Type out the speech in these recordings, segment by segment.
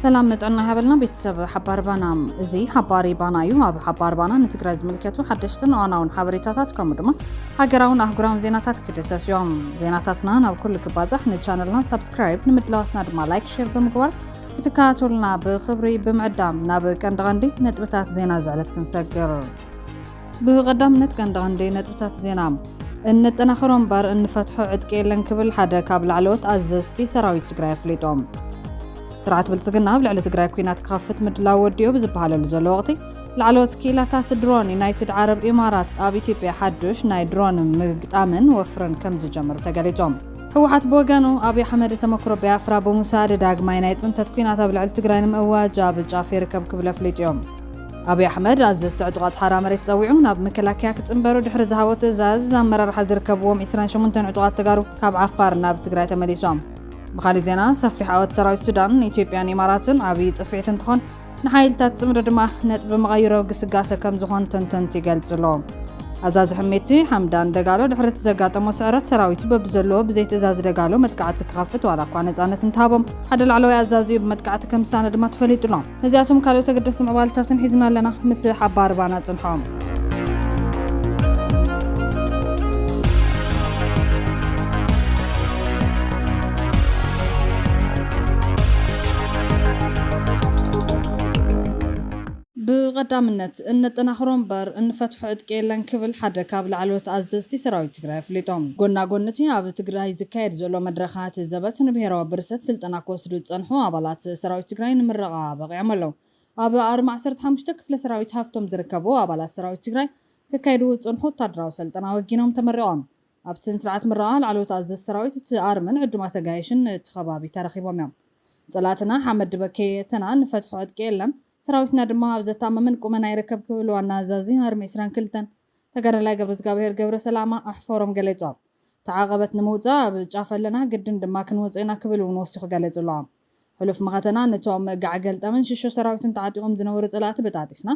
ሰላም ንጥዕና ይሃበልና ቤተሰብ ሓባሪ ባና እዚ ሓባሪ ባና እዩ ኣብ ሓባሪ ባና ንትግራይ ዝምልከቱ ሓደሽትን እዋናውን ሓበሬታታት ከምኡ ድማ ሃገራውን ኣህጉራውን ዜናታት ክድሰስ እዮም ዜናታትና ናብ ኩሉ ክባዛሕ ንቻነልና ሳብስክራይብ ንምድላዋትና ድማ ላይክ ሼር ብምግባር ክትከታተሉና ብክብሪ ብምዕዳም ናብ ቀንዲ ቀንዲ ነጥብታት ዜና ዝዕለት ክንሰግር ብቐዳምነት ቀንዲ ቀንዲ ነጥብታት ዜና እነጠናኽሮ እምበር እንፈትሖ ዕጥቂ የለን ክብል ሓደ ካብ ላዕለዎት ኣዘዝቲ ሰራዊት ትግራይ ኣፍሊጦም። ስርዓት ብልፅግና ኣብ ልዕሊ ትግራይ ኩናት ክኸፍት ምድላው ወዲኦ ብዝበሃለሉ ዘሎ ወቕቲ ላዕለዎት ክኢላታት ድሮን ዩናይትድ ዓረብ ኢማራት ኣብ ኢትዮጵያ ሓዱሽ ናይ ድሮን ምግጣምን ወፍርን ከም ዝጀመሩ ተገሊፆም። ህወሓት ብወገኑ፣ ኣብይ ኣሕመድ ተመክሮ ቢያፍራ ብምውሳድ ዳግማይ ናይ ፅንተት ኲናት ኣብ ልዕሊ ትግራይ ንምእዋጅ ኣብ ጫፍ ይርከብ ክብል ኣፍሊጡዮ። ኣብይ ኣሕመድ ኣዘዝቲ ዕጡቓት ሓራ መሬት ፀዊዑ ናብ መከላከያ ክፅምበሩ ድሕሪ ዝሃቦ ትእዛዝ፣ ኣመራርሓ ዝርከብዎም ዒስራን ሸሞንተን ዕጡቓት ተጋሩ ካብ ዓፋር ናብ ትግራይ ተመሊሶም። ብኻሊእ ዜና፣ ሰፊሕ ዓወት ሰራዊት ሱዳን፣ ኢትዮጵያን ኢማራትን ዓብዪ ፅፍዒት እንትኾን፣ ንሓይልታት ጽምዶ ድማ ነጥቢ መቐይሮ ግስጋሰ ከም ዝኾን ተንተንቲ ይገልጽሎ። ኣዛዚ ሕሜቲ ሓምዳን ደጋሎ ድሕሪ እቲ ዘጋጠሞ ስዕረት ሰራዊቱ በብዘለዎ ብዘይ ትእዛዝ ደጋሎ መጥቃዕቲ ክኸፍት ዋላ እኳ ነጻነት እንተሃቦም ሓደ ላዕለዋይ ኣዛዚኡ ብመጥቃዕቲ ከም ዝሰኣነ ድማ ተፈሊጡሎ። ነዚኣቶም ካልኦት ኣገደስቲ ምዕባለታትን ሒዝና ኣለና። ምስ ሓባር ባና ጽንሖ። ብቐዳምነት እነጠናኽሮ እምበር እንፈትሖ ዕጥቂ የለን ክብል ሓደ ካብ ላዕለዎት ኣዘዝቲ ሰራዊት ትግራይ ኣፍሊጡ። ጎና ጎኒ እቲ ኣብ ትግራይ ዝካየድ ዘሎ መድረኻት ዘበት ንብሄራዊ ብርሰት ስልጠና ክወስዱ ዝፀንሑ ኣባላት ሰራዊት ትግራይ ንምረቓ በቒዖም ኣለው። ኣብ ኣርማ ዓሰርተ ሓሙሽተ ክፍለ ሰራዊት ሃፍቶም ዝርከቡ ኣባላት ሰራዊት ትግራይ ከካይድዎ ዝፀንሑ ወታደራዊ ሰልጠና ወጊኖም ተመሪቖም። ኣብቲ ስንስርዓት ምረቓ ላዕለዎት ኣዘዝቲ ሰራዊት እቲ ኣርምን ዕዱማት ኣጋይሽን እቲ ከባቢ ተረኺቦም እዮም። ፀላእትና ሓመድ ድበ ከየእተና ንፈትሖ ዕጥቂ የለን፣ ሰራዊትና ድማ ኣብ ዘተኣማምን ቁመና ይርከብ ክብል ዋና ኣዛዚ ኣርሚ ዕስራን ክልተን ተጋዳላይ ገብረዝጋብሄር ገብረሰላማ ኣሕፎሮም ገሊፆም። እቲ ዓቐበት ንምውፃእ ኣብ ጫፍ ኣለና፣ ግድን ድማ ክንወፆ ኢና ክብል እውን ወሲኹ ገሊፁሎም። ሕሉፍ መኸተና ንቶም ጋዕ ገልጠምን ሽሾ ሰራዊትን ተዓጢቆም ዝነበሩ ፀላእቲ በጣጢስና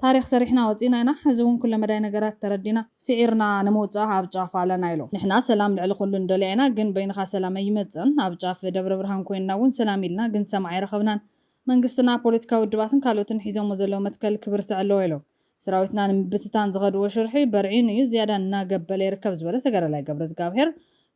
ታሪኽ ሰሪሕና ወፂእና ኢና ሕዚ እውን ኩለመዳይ ነገራት ተረዲና ስዒርና ንምውፃእ ኣብ ጫፍ ኣለና ኢሎም። ንሕና ሰላም ልዕሊ ኩሉ ንደልያ ኢና ግን በይንኻ ሰላም ኣይመፅእን ኣብ ጫፍ ደብረብርሃን ኮይንና እውን ሰላም ኢልና ግን ሰማዒ ኣይረኸብናን መንግስትና ፖለቲካዊ ውድባትን ካልኦትን ሒዞሞ ዘለው መትከል ክብርትዕ ኣለዎ ኢሎም ሰራዊትና ንምብትታን ዝኸድዎ ሽርሒ በርዒኑ እዩ ዝያዳ እናገበለ ይርከብ ዝበለ ተጋዳላይ ገብረዝጋብሄር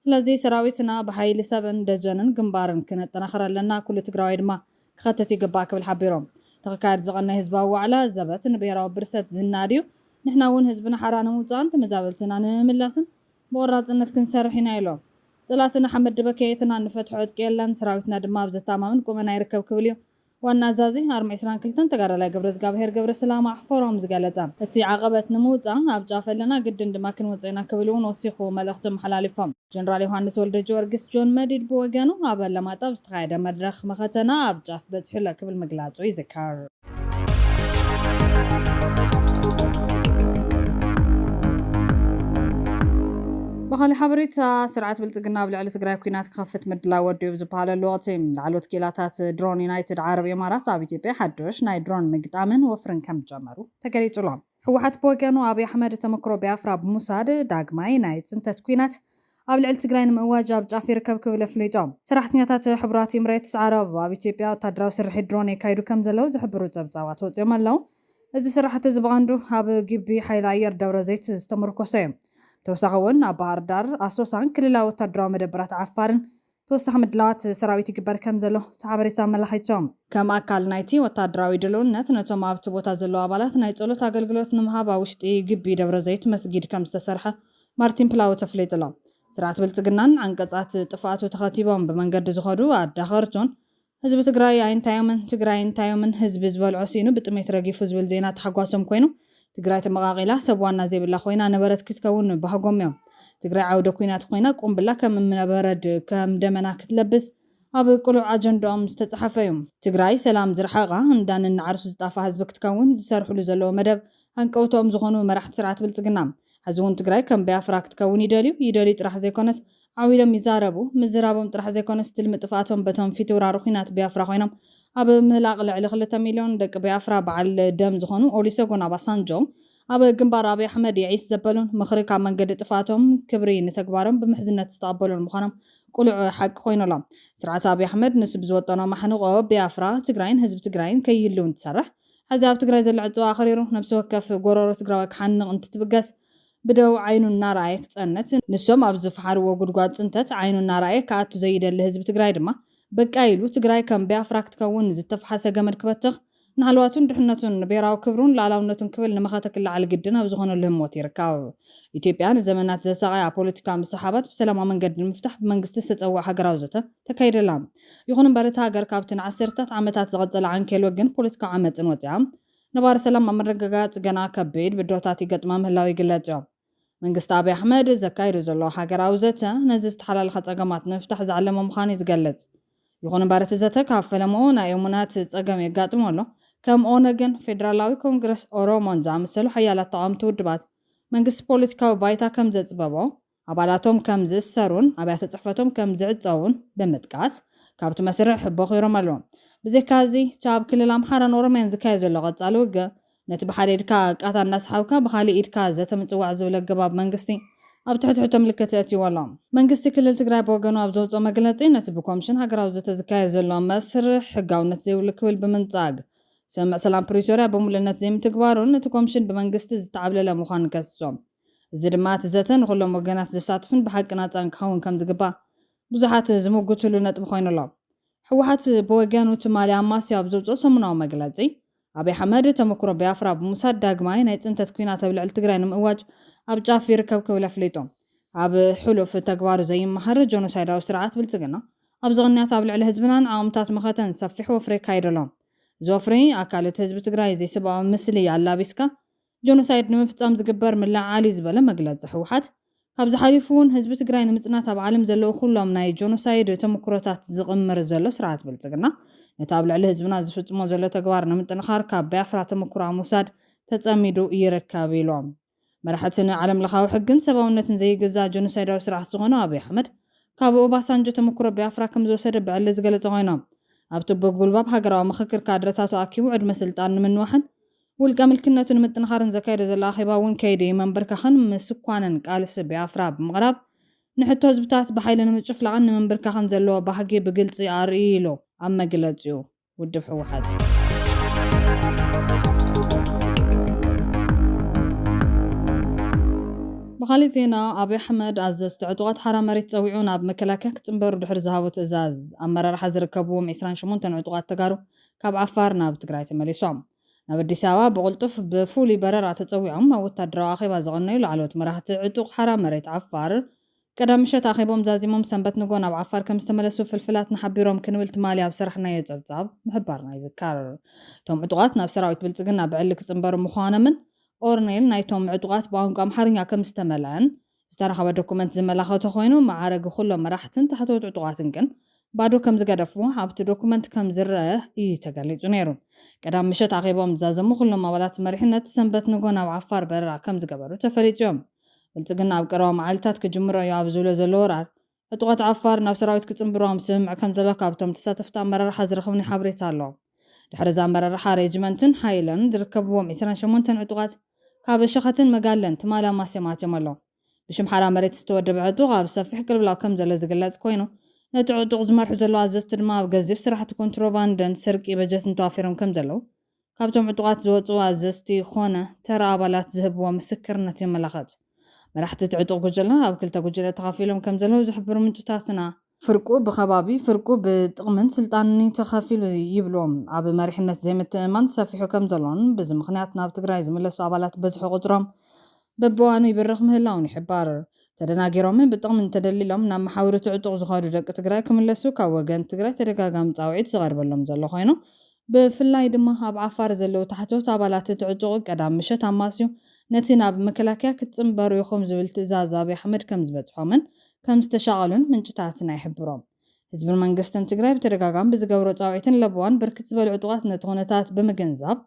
ስለዚ ሰራዊትና ብሓይሊ ሰብን ደጀንን ግንባርን ክነጠናኽር ኣለና ኩሉ ትግራዋይ ድማ ክኸትት ይግባእ ክብል ሓቢሮም እቲክካየድ ዝቐነይ ህዝባዊ ዋዕላ ዘበት ንብሄራዊ ብርሰት ዝናድ እዩ ንሕና እውን ህዝብና ሓራ ንምውፃእን ተመዛበልትና ንምምላስን ብቖራፅነት ክንሰርሕ ኢና ኢሎም። ፅላእትና ሓመድ ድበከየትና እንፈትሖ ዕጥቂ የለን ሰራዊትና ድማ ኣብ ዘተኣማምን ቁመና ይርከብ ክብል እዩ ዋና ኣዛዚ ኣርሚ ዕስራን ክልተን ተጋዳላይ ገብረዝጋብሄር ገብረስላማ ኣሕፈሮም ዝገለፀ እቲ ዓቐበት ንምውፃእ ኣብ ጫፍ ኣለና ግድን ድማ ክንወፆ ኢና ክብል እውን ወሲኹ መልእኽቱ ኣመሓላሊፎም። ጀነራል ዮሃንስ ወልደጅወርግስ፣ ጆን መዲድ፣ ብወገኑ ኣብ ኣለማጣ ኣብ ዝተኻየደ መድረኽ መኸተና ኣብ ጫፍ በፂሑ ኣሎ ክብል ምግላፁ ይዝከር። ብኻሊእ ሓበሬታ ስርዓት ብልፅግና ኣብ ልዕሊ ትግራይ ኲናት ክኸፍት ምድላው ወዲኡ ብዝበሃለሉ ወቕቲ፣ ላዕለዎት ክኢላታት ድሮን ዩናይትድ ዓረብ ኢማራት ኣብ ኢትዮጵያ ሓዱሽ ናይ ድሮን ምግጣምን ወፍርን ከምዝጀመሩ ተገሊፁ'ሎ። ህወሓት ብወገኑ ኣብይ ኣሕመድ ተመክሮ ቢያፍራ ብምውሳድ ዳግማይ ናይ ፅንተት ኲናት ኣብ ልዕሊ ትግራይ ንምእዋጅ ኣብ ጫፍ ይርከብ ክብል ኣፍሊጦ። ሰራሕተኛታት ሕቡራት ኢምሬትስ ዓረብ ኣብ ኢትዮጵያ ወታደራዊ ስርሒት ድሮን የካይዱ ከምዘለው ዝሕብሩ ፀብፃባት ወፂኦም ኣለው። እዚ ስራሕቲ እዚ ብቐንዱ ኣብ ግቢ ሓይሊ ኣየር ደብረዘይት ዝተመርኮሰ እዩ። ብተወሳኺ እውን ኣብ ባህርዳር፣ ኣሶሳን ክልላዊ ወታደራዊ መደበራት ዓፋርን ተወሳኺ ምድላዋት ሰራዊት ይግበር ከምዘሎ እቲ ሓበሬታ ኣመላኺቱ። ከም ኣካል ናይቲ ወታደራዊ ድልውነት ነቶም ኣብቲ ቦታ ዘለዉ ኣባላት ናይ ጸሎት ኣገልግሎት ንምሃብ ኣብ ውሽጢ ግቢ ደብረዘይት መስጊድ ከምዝተሰርሐ ማርቲን ፕላውት ኣፍሊጡ ኣሎ። ስርዓት ብልጽግናን ዓንቀጻት ጥፍኣቱ ተኸቲቦም ብመንገዲ ዝኸዱ ኣዳኸርቱን ህዝቢ ትግራይ ኣይንታዮምን ትግራይ እንታዮምን ህዝቢ ዝበልዖ ሲኢኑ ብጥሜት ረጊፉ ዝብል ዜና ታሕጓሶም ኮይኑ ትግራይ ተመቓቒላ ሰብ ዋና ዘይብላ ኮይና ነበረት ክትከውን ምባህጎም እዮም። ትግራይ ዓውደ ኩናት ኮይና ቁምብላ ከም እምነበረድ ከም ደመና ክትለብስ ኣብ ቅሉዕ ኣጀንድኦም ዝተፅሓፈ እዩ። ትግራይ ሰላም ዝረሓቓ እንዳ ነናዓርሱ ዝጣፋ ህዝቢ ክትከውን ዝሰርሕሉ ዘለዉ መደብ ሃንቀውትኦም ዝኾኑ መራሕቲ ስርዓት ብልፅግና ሐዚ እውን ትግራይ ከም ብያፍራ ክትከውን ይደልዩ ይደልዩ ጥራሕ ዘይኮነስ ዓው ኢሎም ይዛረቡ። ምዝራቦም ጥራሕ ዘይኮነስ ትልሚ ጥፍኣቶም በቶም ፊትውራሪ ኹናት ቢያፍራ ኾይኖም ኣብ ምህላቕ ልዕሊ ክልተ ሚልዮን ደቂ ቢያፍራ በዓል ደም ዝኾኑ ኦሊሰጎን ኣባሳንጆ ኣብ ግንባር ኣብይ ኣሕመድ የዒስ ዘበሉን ምኽሪ ካብ መንገዲ ጥፍኣቶም ክብሪ ንተግባሮም ብምሕዝነት ዝተቐበሉን ምዃኖም ቁሉዕ ሓቂ ኮይኑ ኣሎ። ስርዓት ኣብይ ኣሕመድ ንሱ ብዝወጠኖ ማሕንቖ ቢያፍራ ትግራይን ህዝቢ ትግራይን ከይህልው እንትሰርሕ ሐዚ ኣብ ትግራይ ዘሎ ዕፅዋ ኣኽሪሩ ነብሲ ወከፍ ጎሮሮ ትግራዋይ ክሓንቕ እንትትብገስ ብደው ዓይኑ እናረኣየ ክፀንት፣ ንሶም ኣብ ዝፈሓርዎ ጉድጓድ ፅንተት ዓይኑ እናረኣየ ክኣቱ ዘይደሊ ህዝቢ ትግራይ ድማ በቃ ኢሉ ትግራይ ከም ቢያፍራ ክትከውን ንዝተፈሓሰ ገመድ ክበትኽ፣ ንሃለዋቱን ድሕነቱን፣ ንብሄራዊ ክብሩን ልኣላውነቱን ክብል ንመኸተ ክለዓል ግድን ኣብ ዝኾነሉ ህሞት ይርከብ። ኢትዮጵያ ንዘመናት ዘሳቐያ ፖለቲካዊ ምስሕሓባት ብሰላማዊ መንገዲ ንምፍታሕ ብመንግስቲ ዝተፀውዐ ሃገራዊ ዘተ ተካይደላ። ይኹን እምበር እታ ሃገር ካብቲ ንዓሰርተታት ዓመታት ዝቐፀለ ዓንኬል ወግን ፖለቲካዊ ዓመፅን ወፂኣ፣ ነባሪ ሰላም ኣብ ምርግጋፅ ገና ከቢድ ብድሆታት ይገጥማ ምህላው ይግለፅ ዮም። መንግስቲ ኣብይ ኣሕመድ ዘካይዶ ዘሎ ሃገራዊ ዘተ ነዚ ዝተሓላለኸ ፀገማት ንምፍታሕ ዝዓለመ ምዃኑ ዩ ዝገልፅ። ይኹን እምበር እቲ ዘተ ካብ ፈለምኡ ናይ እሙናት ፀገም የጋጥሞ ኣሎ። ከም ኦነግን ፌዴራላዊ ኮንግረስ ኦሮሞን ዝኣመሰሉ ሓያላት ተቓወምቲ ውድባት መንግስቲ ፖለቲካዊ ባይታ ከምዘፅበቦ ኣባላቶም ከም ዝእሰሩን ኣብያተ ጽሕፈቶም ከም ዝዕጸዉን ብምጥቃስ ካብቲ መስርሕ ቦኺሮም ኣለዉ። ብዘይካ እዚ እቲ ኣብ ክልል ኣምሓራን ኦሮምያን ዝካየድ ዘሎ ቀጻሊ ውግእ ነቲ ብሓደ ኢድካ ቃታ እናሰሓብካ ብኻሊእ ኢድካ ዘተ ምጽዋዕ ዝብል ኣገባብ መንግስቲ ኣብ ትሕትሕቶ ምልክት ኣእትይዎ ኣሎ። መንግስቲ ክልል ትግራይ ብወገኑ ኣብ ዘውጽኦ መግለጺ ነቲ ብኮምሽን ሃገራዊ ዘተ ዝካየድ ዘሎ መስርሕ ሕጋውነት ዘይብሉ ክብል ብምንጻግ ስምምዕ ሰላም ፕሪቶርያ ብምሉእነት ዘይምትግባሩን እቲ ኮምሽን ብመንግስቲ ዝተዓብለለ ምዃኑን ከሲሶም እዚ ድማ እቲ ዘተ ንኹሎም ወገናት ዘሳትፍን ብሓቂ ናጻን ክኸውን ከም ዝግባእ ብዙሓት ዝምጉትሉ ነጥቢ ኮይኑ ኣሎ። ህወሓት ብወገኑ ትማሊ ኣማስዩ ኣብ ዘውጽኦ ሰሙናዊ መግለጺ፣ ኣብይ ኣሕመድ ተመኩሮ ቢያፍራ ብምውሳድ ዳግማይ ናይ ጽንተት ኲናት ኣብ ልዕሊ ትግራይ ንምእዋጅ ኣብ ጫፍ ይርከብ ክብል ኣፍሊጡ። ኣብ ሕሉፍ ተግባሩ ዘይመሃር ጆኖሳይዳዊ ስርዓት ብልጽግና ኣብዚ ቅንያት ኣብ ልዕሊ ህዝብናን ዓቕምታት መኸተን ሰፊሕ ወፍሪ የካይድ ኣሎ። እዚ ወፍሪ ኣካል እቲ ህዝቢ ትግራይ ዘይሰብኣዊ ምስሊ ኣላቢስካ ጆኖሳይድ ንምፍፃም ዝግበር ምልዕዓል እዩ ዝበለ መግለፂ ህወሓት፣ ካብዚ ሓሊፉ እውን ህዝቢ ትግራይ ንምፅናት ኣብ ዓለም ዘለዉ ኩሎም ናይ ጆኖሳይድ ተምኩሮታት ዝቕምር ዘሎ ስርዓት ብልፅግና ነቲ ኣብ ልዕሊ ህዝብና ዝፍፅሞ ዘሎ ተግባር ንምጥንኻር ካብ ባያፍራ ተምኩሮ ኣብ ምውሳድ ተፀሚዱ ይርከብ ኢሎም። መራሕቲ ንዓለም ለኻዊ ሕግን ሰብኣውነትን ዘይግዛእ ጆኖሳይዳዊ ስርዓት ዝኾነ ኣብይ ኣሕመድ ካብ ኦባሳንጆ ተምኩሮ ባያፍራ ከምዝወሰደ ብዕሊ ዝገለፀ ኮይኖም ኣብቲ ብጉልባብ ሃገራዊ ምኽክር ካድረታቱ ኣኪቡ ዕድመ ስልጣን ንምንዋሕን ውልቀ ምልክነቱ ንምጥንኻርን ዘካየዶ ዘሎ ኣኼባ እውን ከይዲ መንብርከኽን ምስኳንን ቃልሲ ቢያፍራ ብምቕራብ ንሕቶ ህዝብታት ብሓይሊ ንምጭፍላቕን ንምንብርከኽን ዘለዎ ባህጊ ብግልፂ ኣርእዩ ኢሉ ኣብ መግለፂኡ ውድብ ብኻሊእ ዜና ኣብይ ኣሕመድ ኣዘዝቲ ዕጡቓት ሓራ መሬት ፀዊዑ ናብ መከላከያ ክፅምበሩ ድሕሪ ዝሃቦ ትእዛዝ ኣመራርሓ ዝርከብዎም ዕስራን ሸሞንተን ዕጡቓት ተጋሩ ካብ ዓፋር ናብ ትግራይ ተመሊሶም። ናብ ኣዲስ ኣበባ ብቕልጡፍ ብፍሉይ በረራ ተጸዊዖም ኣብ ወታደራዊ ኣኼባ ዝቐነዩ ላዕለዎት መራሕቲ ዕጡቕ ሓራ መሬት ዓፋር፣ ቀዳም ምሸት ኣኼቦም ዛዚሞም ሰንበት ንግሆ ናብ ዓፋር ከምዝተመለሱ ፍልፍላትና ሓቢሮም ክንብል ትማሊ ኣብ ዝሰራሕናዮ ጸብጻብ ምሕባርና ይዝከር። እቶም ዕጡቓት ናብ ሰራዊት ብልጽግና ብዕሊ ክጽንበሩ ምዃኖምን ኦርኔል ናይቶም ዕጡቓት ብቋንቋ ኣምሓርኛ ከምዝተመልኣን ዝተረኸበ ዶኩመንት ዝመላኸቶ ኮይኑ መዓረጊ ኩሎም መራሕትን ታሕተዎት ዕጡቓትን ግን ባዶ ከምዝገደፉ ኣብቲ ዶኩመንት ከምዝረኣ እዩ ተገሊፁ ነይሩ። ቀዳም ምሸት ኣኼቦም ዝዛዘሙ ኩሎም ኣባላት መሪሕነት ሰንበት ንግሆ ናብ ዓፋር በረራ ከምዝገበሩ ተፈሊጡ እዮ። ብልፅግና ኣብ ቀረባ መዓልታት ክጅምሮ እዩ ኣብ ዝብሎ ዘሎ ወራር ዕጡቓት ዓፋር ናብ ሰራዊት ክጽንብሮም ስምምዕ ከምዘሎ ካብቶም ተሳተፍቲ ኣመራርሓ ዝረኸብናዮ ሓበሬታ ኣሎ። ድሕሪ እዚ ኣመራርሓ ሬጅመንትን ሓይልን ዝርከብዎም ዕስራን ሸሞንተን ዕጡቓት ካብ ሸኸትን መጋለን ትማሊ ኣማስዮም ኣትዮም ኣለዉ። ብሽም ሓራ መሬት ዝተወደበ ዕጡቕ ኣብ ሰፊሕ ቅልብላው ከምዘሎ ዝግለጽ ኮይኑ፣ ነቲ ዕጡቕ ዝመርሑ ዘለዉ ኣዘዝቲ ድማ ኣብ ገዚፍ ስራሕቲ ኮንትሮባንድን ስርቂ በጀትን ተዋፊሮም ከምዘለዉ ካብቶም ዕጡቓት ዝወጹ ኣዘዝቲ ኮነ ተራ ኣባላት ዝህብዎ ምስክርነት የመላኸት። መራሕቲ እቲ ዕጡቕ ጉጅለ ኣብ ክልተ ጉጅለ ተኸፊሎም ከም ዘለዉ ዝሕብሩ ምንጭታትና፣ ፍርቁ ብኸባቢ ፍርቁ ብጥቕምን ስልጣንን'ዩ ተኸፊሉ ይብሉ፣ ኣብ መሪሕነት ዘይምትእምማን ሰፊሑ ከም ዘሎን ብዚ ምኽንያት ናብ ትግራይ ዝምለሱ ኣባላት ብዝሒ ቁጽሮም በብእዋኑ ይብርኽ ምህላዉን ይሕበር። ተደናጊሮምን ብጥቕምን ተደሊሎም ናብ መሓውር እቲ ዕጡቕ ዝኸዱ ደቂ ትግራይ ክምለሱ ካብ ወገን ትግራይ ተደጋጋሚ ጻውዒት ዝቐርበሎም ዘሎ ኮይኑ ብፍላይ ድማ ኣብ ዓፋር ዘለው ታሕተዎት ኣባላት እቲ ዕጡቕ ቀዳም ምሸት ኣማስዩ ነቲ ናብ መከላከያ ክትጽንበሩ ኢኹም ዝብል ትእዛዝ ኣብይ ኣሕመድ ከምዝበጽሖምን ከምዝተሻቐሉን ምንጭታትና ይሕብሩ። ህዝብን መንግስትን ትግራይ ብተደጋጋሚ ብዝገብሮ ጻውዒትን ለበዋን ብርክት ዝበሉ ዕጡቓት ነቲ ኩነታት ብምግንዛብ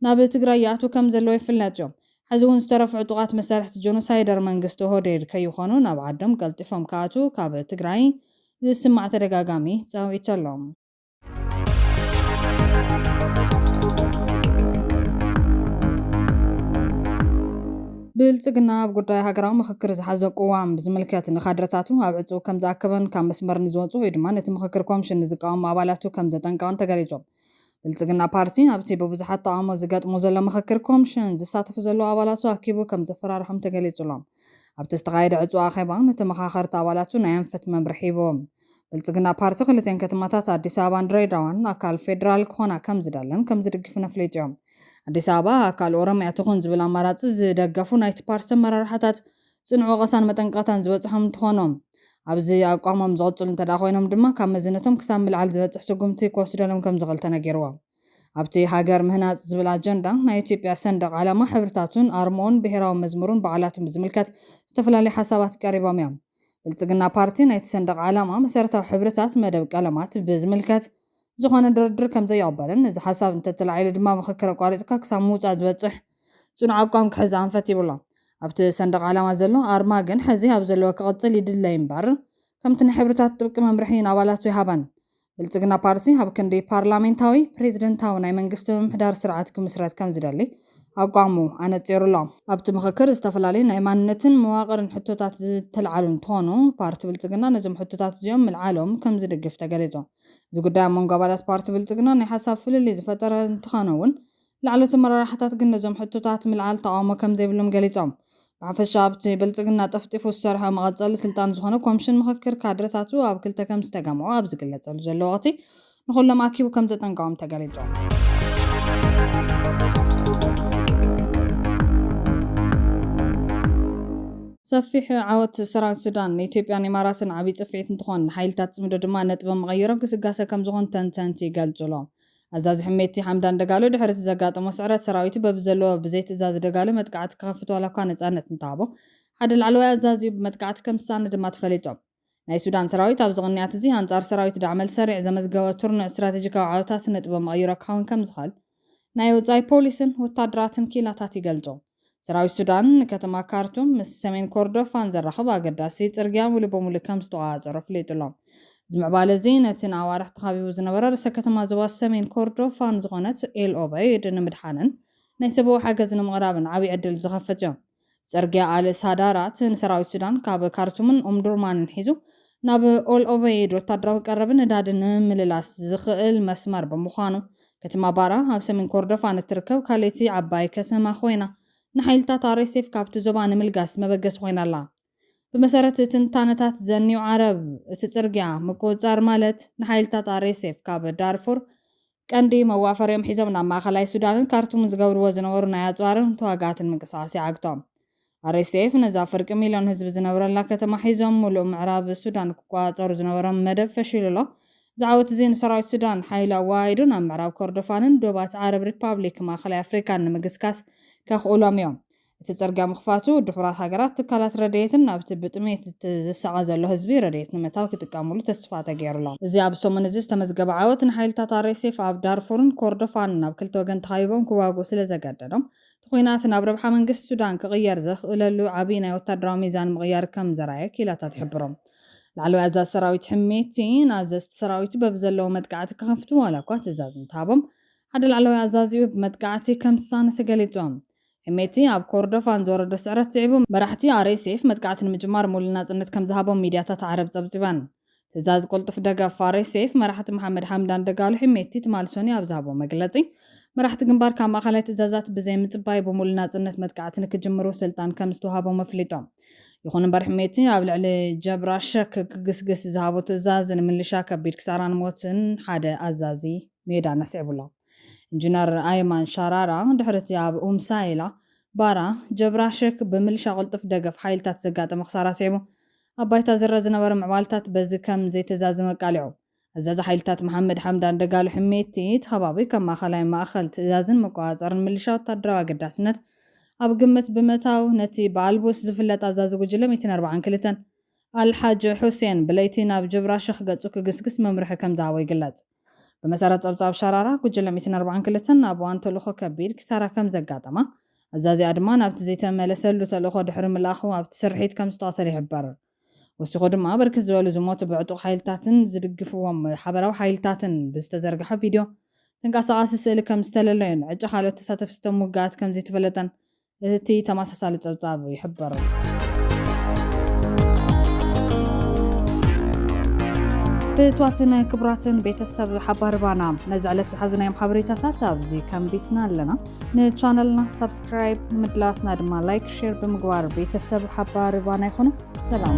ናብ ትግራይ ይኣትዉ ከምዘለው ይፍለጥ እዩ። ሕዚ እውን ዝተረፉ ዕጡቓት መሳርሕቲ ጆኖሳይደር መንግስቲ ኦህዴድ ከይኾኑ ናብ ዓዶም ቀልጢፎም ክኣትዉ ካብ ትግራይ ዝስማዕ ተደጋጋሚ ጻውዒት ኣሎ። ብልፅግና ኣብ ጉዳይ ሃገራዊ ምኽክር ዝሓዞ ቅዋም ብዝምልከት ንካድረታቱ ኣብ ዕፅው ከምዝኣከበን ካብ መስመር ንዝወፁ ወይ ድማ ነቲ ምኽክር ኮምሽን ንዝቃወሙ ኣባላቱ ከምዘጠንቀቐን ተገሊፁ። ብልፅግና ፓርቲ ኣብቲ ብብዙሓት ተቓውሞ ዝገጥሞ ዘሎ ምኽክር ኮምሽን ዝሳተፉ ዘለዉ ኣባላቱ ኣኪቡ ከምዘፈራርሖም ተገሊፁሎም ኣብቲ ዝተኻየደ ዕፅው ኣኼባ ንተመኻኸርቲ ኣባላቱ ናይ ኣንፈት መምርሒ ሂቡ። ብልፅግና ፓርቲ ክልቲኤን ከተማታት ኣዲስ ኣበባን ድሬዳዋን ኣካል ፌዴራል ክኾና ከምዝደልን ከምዝድግፍን ኣፍሊጡ እዩ። ኣዲስ ኣበባ ኣካል ኦሮሚያ ትኹን ዝብል ኣማራፂ ዝደገፉ ናይቲ ፓርቲ ኣመራርሓታት ፅኑዕ ወቐሳን መጠንቀቕታን ዝበፅሖም እንትኾኑ ኣብዚ ኣቋሞም ዝቕፅሉ እንተድኣ ኮይኖም ድማ ካብ መዝነቶም ክሳብ ምልዓል ዝበፅሕ ስጉምቲ ክወስደሎም ከምዝኽእል ተነጊሩ። ኣብቲ ሃገር ምህናፅ ዝብል ኣጀንዳ ናይ ኢትዮጵያ ሰንደቕ ዓላማ፣ ሕብርታቱን ኣርምኡን፣ ብሄራዊ መዝሙሩን በዓላቱን ብዝምልከት ዝተፈላለዩ ሓሳባት ቀሪቦም እዮም። ብልፅግና ፓርቲ ናይቲ ሰንደቕ ዓላማ መሰረታዊ ሕብርታት መደብ ቀለማት ብዝምልከት ዝኾነ ድርድር ከምዘይቕበልን እዚ ሓሳብ እንተተላዒሉ ድማ ምኽክር ኣቋሪፅካ ክሳብ ምውፃእ ዝበፅሕ ፅኑዕ ኣቋም ክሕዝ ኣንፈት ይብሎ። ኣብቲ ሰንደቕ ዓላማ ዘሎ ኣርማ ግን ሕዚ ኣብ ዘለዎ ክቕፅል ይድለ ይምበር ከምቲ ናይ ሕብርታት ጥብቂ መምርሒ ንኣባላቱ ይሃበን ብልጽግና ፓርቲ ኣብ ክንዲ ፓርላሜንታዊ፣ ፕሬዚደንታዊ ናይ መንግስቲ ምምሕዳር ስርዓት ክምስረት ከምዝደሊ ኣቋሙ ኣነጺሩ ኣሎ። ኣብቲ ምኽክር ዝተፈላለዩ ናይ ማንነትን መዋቕርን ሕቶታት ዝተልዓሉ እንትኾኑ፣ ፓርቲ ብልጽግና ነዞም ሕቶታት እዚኦም ምልዓሎም ከምዝድግፍ ተገሊጹ። እዚ ጉዳይ ኣብ መንጎ ኣባላት ፓርቲ ብልጽግና ናይ ሓሳብ ፍልልይ ዝፈጠረ እንተኾነ'ውን፣ ላዕለዎት ኣመራርሓታት ግን ነዞም ሕቶታት ምልዓል ተቓውሞ ከም ዘይብሎም ገሊጾም። ብሓፈሻ ኣብቲ ብልጽግና ጠፍጢፉ ዝሰርሖ መቐጸሊ ስልጣን ዝኾነ ኮምሽን ምኽክር ካድረታቱ ኣብ ክልተ ከም ዝተገምዖ ኣብ ዝግለጸሉ ዘሎ ወቕቲ ንኹሎም ኣኪቡ ከም ዘጠንቀቖም ተገሊጹ። ሰፊሕ ዓወት ሰራዊት ሱዳን ንኢትዮጵያን ኢማራትን ዓብዪ ጽፍዒት እንትኾን ንሓይልታት ጽምዶ ድማ ነጥቢ መቐይሮ ግስጋሰ ከምዝኾን ተንተንቲ ይገልጹ ኣሎም። ኣዛዚ ሕሜቲ ሓምዳን ደጋሎ ድሕሪ'ቲ ዘጋጠሞ ስዕረት ሰራዊቱ በብዘለዎ ብዘይ ትእዛዝ ደጋሎ መጥቃዕቲ ክኸፍት ዋላኳ ነጻነት እንተሃቦ ሓደ ላዕለዋይ ኣዛዚኡ ብመጥቃዕቲ ከምዝሰኣነ ድማ ተፈሊጦም። ናይ ሱዳን ሰራዊት ኣብዚ ቅንያት'ዚ ኣንጻር ሰራዊት ዳዕመል ሰሪዕ ዘመዝገቦ ትርኑዕ ስትራቴጂካዊ ዓወታት ነጥበ መቐይሮ ክኸውን ከምዝኽእል ናይ ወጻኢ ፖሊስን ወታደራትን ክኢላታት ይገልጹ። ሰራዊት ሱዳን ንከተማ ካርቱም ምስ ሰሜን ኮርዶፋን ዘራኽብ ኣገዳሲ ጽርግያ ምሉእ ብምሉእ ከም ዝተቖጻጸሮ ኣፍሊጡ'ሎ። እዚ ምዕባለ እዚ ነቲ ንኣዋርሕ ተኻቢቡ ዝነበረ ርእሰ ከተማ ዞባ ሰሜን ኮርዶፋን ዝኾነት ኤል ኦበይድ ንምድሓንን ናይ ሰብዊ ሓገዝ ንምቕራብን ዓብይ ዕድል ዝኸፍት'ዮ። ጽርግያ ኣል ሳዳራት ንሰራዊት ሱዳን ካብ ካርቱምን ኡምዱርማንን ሒዙ ናብ ኦል ኦበይድ ወታደራዊ ቀረብን ነዳድን ንምምልላስ ዝኽእል መስመር ብምዃኑ፣ ከተማ ባራ ኣብ ሰሜን ኮርዶፋን እትርከብ ካልእቲ ዓባይ ከተማ ኮይና፣ ንሓይልታት ኣርኤስኤፍ ካብቲ ዞባ ንምልጋስ መበገሲ ኮይና ኣላ። ብመሰረት ትንታነታት ዘኒው ዓረብ፣ እቲ ጽርግያ ምቁጽጻር ማለት ንሓይልታት ኣርኤስኤፍ ካብ ዳርፉር ቀንዲ መዋፈሪኦም ሒዞም ናብ ማእኸላይ ሱዳንን ካርቱምን ዝገብርዎ ዝነበሩ ናይ ኣፅዋርን ተዋጋእትን ምንቅስቓስ ይዓግቶም። RSF ነዛ ፍርቂ ሚልዮን ህዝቢ ዝነብረላ ከተማ ሒዞም ሙሉእ ምዕራብ ሱዳን ክቆፃፀሩ ዝነበሮም መደብ ፈሺሉ ኣሎ። እዚ ዓወት እዚ ንሰራዊት ሱዳን ሓይሉ ኣወሃሂዱ ናብ ምዕራብ ኮርዶፋንን ዶባት ዓረብ ሪፓብሊክ ማእኸላይ ኣፍሪካን ንምግስጋስ ከኽእሎም እዮም። እቲ ጽርግያ ምኽፋቱ፣ ድሑራት ሃገራት ትካላት ረድኤትን ናብቲ ብጥሜት ዝሳቐ ዘሎ ህዝቢ ረድኤት ንምእታው ክጥቀሙሉ ተስፋ ተገይሩ'ሎ። እዚ ኣብዚ ሰሙን እዚ ዝተመዝገበ ዓወት፣ ንሓይልታት ኣርኤስኤፍ ኣብ ዳርፉርን ኮርዶፋንን ናብ ክልተ ወገን ተኸቢቦም ክዋግኡ ስለ ዘገደዶም፣ እቲ ኲናት ናብ ረብሓ መንግስቲ ሱዳን ክቕየር ዘኽእለሉ ዓቢ ናይ ወተሃደራዊ ሚዛን ምቕያር ከም ዘርኣየ ክኢላታት ይሕብሩ። ላዕለዋይ ኣዛዚ ሰራዊት ሕሜቲ፣ ንኣዘዝቲ ሰራዊቱ በብዘለዎ መጥቃዕቲ ክኸፍቱ ዋላ'ኳ ትእዛዝ እንተሃቦም፣ ሓደ ላዕለዋይ ኣዛዚኡ ብመጥቃዕቲ ከም ዝሳነ ተገሊጹ። ሕሜቲ ኣብ ኮርዶፋን ዝወረዶ ስዕረት ስዒቡ፣ መራሕቲ RSF መጥቃዕቲ ንምጅማር ምሉእ ናጽነት ከም ዝሃቦም ሚድያታት ዓረብ ጸብጺበን። ትእዛዝ ቅልጡፍ ደገፍ RSF መራሕቲ መሓመድ ሓምዳን ደጋሎ ሕሜቲ ትማል ሰኑይ ኣብ ዝሃቦ መግለጺ፣ መራሕቲ ግንባር ካብ ማእከላይ ትእዛዛት ብዘይምጽባይ ብምሉእ ናጽነት መጥቃዕቲ ንክጅምሩ ስልጣን ከም ዝተውሃቦም ኣፍሊጦም። ይኹን እምበር ሕሜቲ ኣብ ልዕሊ ጀብራ ሸክ ክግስግስ ዝሃቦ ትእዛዝ ንምልሻ ከቢድ ክሳራን ሞትን ሓደ ኣዛዚ ሜዳን ኣስዒቡ'ሎ። ኢንጂነር ኣይማን ሻራራ ድሕሪ'ቲ ኣብ ኡም ሳይላ፣ ባራ፣ ጀብራ ሸክ ብምልሻ ቅልጡፍ ደገፍ ሓይልታት ዘጋጠመ ክሳራ ስዒቡ፣ ኣብ ባይታ ዝርኣ ዝነበረ ምዕባልታት በዚ ከም ዘይተዛዘመ ኣቃሊዑ። ኣዛዚ ሓይልታት መሓመድ ሓምዳን ደጋሎ ሕሜቲ፣ እቲ ከባቢ ከም ማእከላይ ማእከል ትእዛዝን መቆጻጸርን ምልሻ ወተሃደራዊ ኣገዳስነት ኣብ ግምት ብምእታው፣ ነቲ ብኣልቡርስ ዝፍለጥ ኣዛዚ ጉጅለ ሚእትን ኣርብዓን ክልተን፣ ኣል ሓጅ ሑሴን ብለይቲ ናብ ጀብራ ሸክ ገጹ ክግስግስ መምርሒ ከም ዝሃቦ ይግለጽ። ብመሰረት ጸብጻብ ሸራራ፣ ጉጅለ ሚእትን ኣርባዓን ክልተን ናብ እዋን ተልእኾ ከቢድ ኪሳራ ከም ዘጋጠማ፣ ኣዛዚኣ ድማ ናብቲ ዘይተመለሰሉ ተልእኾ ድሕሪ ምልኣኹ ኣብቲ ስርሒት ከም ዝተቐተለ ይሕበር። ወሲኹ ድማ ብርክት ዝበሉ ዝሞቱ ብዕጡቕ ሓይልታትን ዝድግፍዎም ሓበራዊ ሓይልታትን ብዝተዘርግሐ ቪድዮ፣ ተንቀሳቓሲ ስእሊ ከም ዝተለለዩን ዕጫ ካልኦት ተሳተፍቲ እቶም ውግኣት ከም ዘይተፈለጠን እቲ ተመሳሳሊ ጸብጻብ ይሕብር። ፍትዋትን ክቡራትን ቤተሰብ ሓባር ባና ነዚ ዕለት ዝሓዝናዮም ሓበሬታታት ኣብዚ ከንቢትና ኣለና ንቻነልና ሳብስክራይብ ምድላትና ድማ ላይክ ሼር ብምግባር ቤተሰብ ሓባር ባና ይኹኑ ሰላም